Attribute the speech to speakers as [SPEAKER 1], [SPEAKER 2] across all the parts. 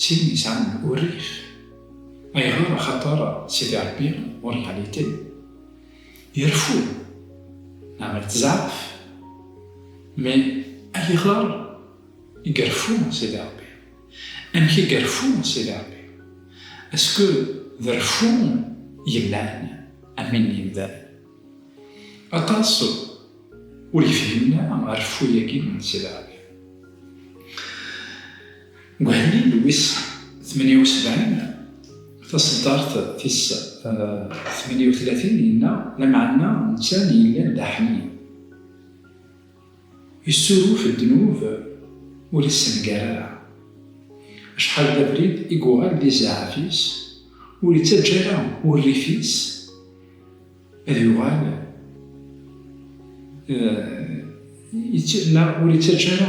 [SPEAKER 1] Tin yesɛan urrif. Ayɣer? Axaṭer Sidi Ṛebbi, en réalité, ireffu neɣ ittzaɛaf. Mais ayɣer i ireffu Sidi Ṛebbi? Amek i ireffu Sidi Ṛebbi? Est-ce que d reffu yellan am win n yemdanen? Aṭas ur yefhimen ara reffu-yagi n Sidi Ṛebbi. Deg uḥlil wis tmenya usebɛin, taṣeddart tis tmenya utlatin, yenna, Lameɛna netta n yellan d aḥnin, yessuruf ddnub ur yessenger ara. Acḥal d abrid i yuɣal d izaɛaf-is, ur ittaǧǧa ara urrif-is ad yuɣal, neɣ ur ittaǧǧa ara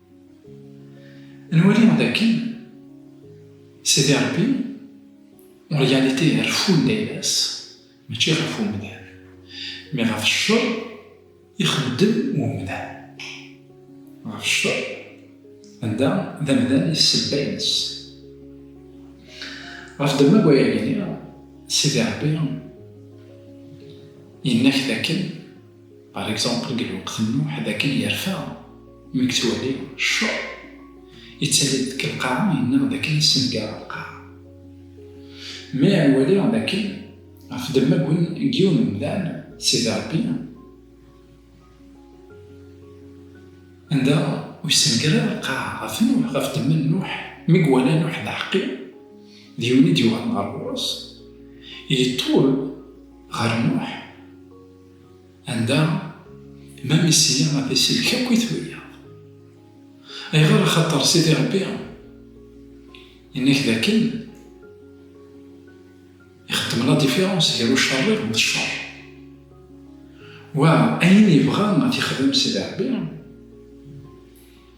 [SPEAKER 1] Nwali dakken Sidi Ṛebbi en réalité ireffun-d ayla-s mačči ɣef umdan, mais ɣef ccer i xeddem umdan, ɣef ccer anda d amdan i ssebba-ines. Ɣef ddemma n waya ay lliɣ, Sidi Ṛebbi yenna-ak dakken. Par exemple, deg lweqt n Nuḥ, dakken yerfa mi yettwali cceṛ, yettali-d deg lqaɛa, yenna dakken yessengar lqaɛa. Mi iwali dakken ɣef demmaggwen n yiwen n umdan, Sidi Ṛebbi, anda ur yessenger ara lqaɛa, ɣef Nuḥ, ɣef demma n Nuḥ, mi iwala Nuḥ d aḥeqqi, d yiwen i d-yuɣalen ɣer ɣur-s, yeṭṭul ɣer Nuḥ. Anda ma misiya a t-isellek akk i turiyaḍ. Ayɣer? Axaṭer Sidi Ṛebbi yenna-k d akken ixeddem la différence gar ucerriḍ d cceṛ. Wa ayen yebɣa a t-ixdem Sidi Ṛebbi.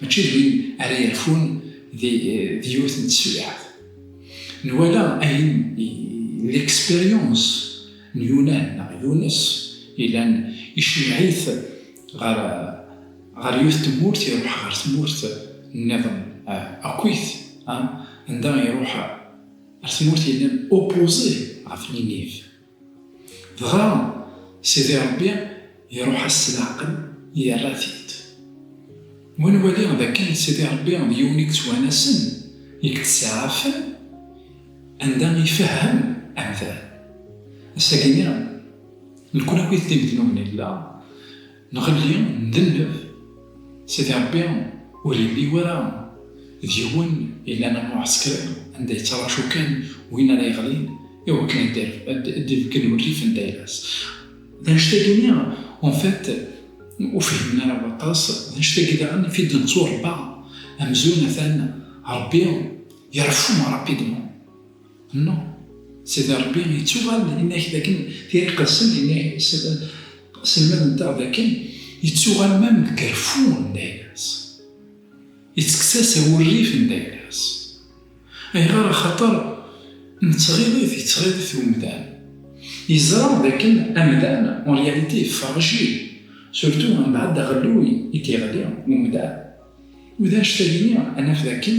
[SPEAKER 1] mačči d win ara yerfun di yiwet n teswiɛt. Nwala ayen l'expérience n Yunan neɣ Yunes yellan icemmeɛ-it ɣer yiwet n tmurt, iruḥ ɣer tmurt nniḍen akkit, anda iruḥ ɣer tmurt yellan opposée ɣef Ninive. Dɣa Sidi Ṛebbi iṛuḥ-as s leɛqel, yerra-t-id. Wi nwali d akken Sidi Ṛebbi d yiwen i yettwanasen, i yettsaɛafen anda ifehhem amdan. Ass-agi-nni, nekni akk-it d imednuben i nella, Nɣelli ndenneb, Sidi Ṛebbi ur yelli wara d yiwen yellan am uɛesker anda yettraǧu kan win ara yeɣlin i wakken ad d-ibeggen urrif n tayla-s. D annect-agi-nni, en fait, ur fihmen ara waṭas, d annect-agi daɣen i t-id-netturebba amzun atan Ṛebbi ireffu rapidement. No, Sidi Rebbi yettuɣal yenna-k dakken tira iqedsen yenna-k selmad-nteɣ dakken yettuɣal mam deg reffu n dayla-s, yettekkes-as awurrif n dayla-s. Ayɣer? Axaṭer n tɣiḍit i yettɣiḍit umdan. Yeẓra dakken amdan en réalité fragile, surtout mbeɛd aɣelluy i d-yeɣli umdan. U d anect-agi i naf dakken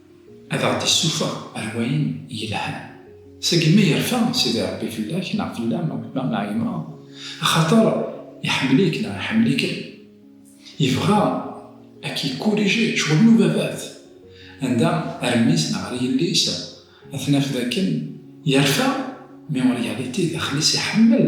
[SPEAKER 1] Ad aɣ-d-issufeɣ ar wayen yelhan. Seg mi yerfa Sidi Ṛebbi fell-ak neɣ fell-am, a baba, a yemma, axaṭer iḥemmel-ik neɣ iḥemmel-ikem, yebɣa a k-ikkurijé ccɣel n ubabat, anda ar mmi-s neɣ ar yelli-s, ad t-naf d akken yerfa mi ur yalit i daxel-is iḥemmel.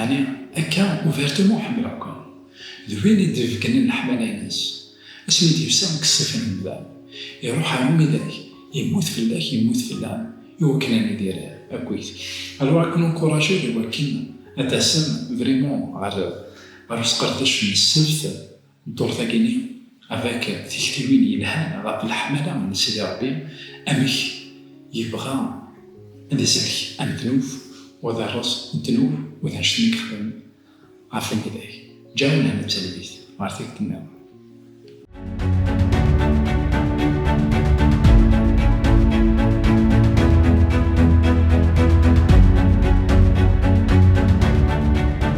[SPEAKER 1] Ɛni akka ubertemm ur ḥemmleɣ-ken? D win i d-ibeggnen leḥmala-ines. Asmi i d-yefsa deg ṣṣif n umdan, iruḥ ar umidag, yemmut fell-ak, yemmut fell-am, i wakken ad nidir akkit. Alors ad ken-encourager i wakken ad d-tasem vraiment ɣer usqerdec n ssebt Ddurt-agi-nni av-ak tiktiwin yelhan ɣef leḥmala n Sidi Ṛebbi, amek yebɣa ad isellek amednub u ad iṛṛez ddnub u d annect-nni i yexdem ɣef umidag. Ǧǧa-w lehna d talwit ɣer tikkelt-nniḍen.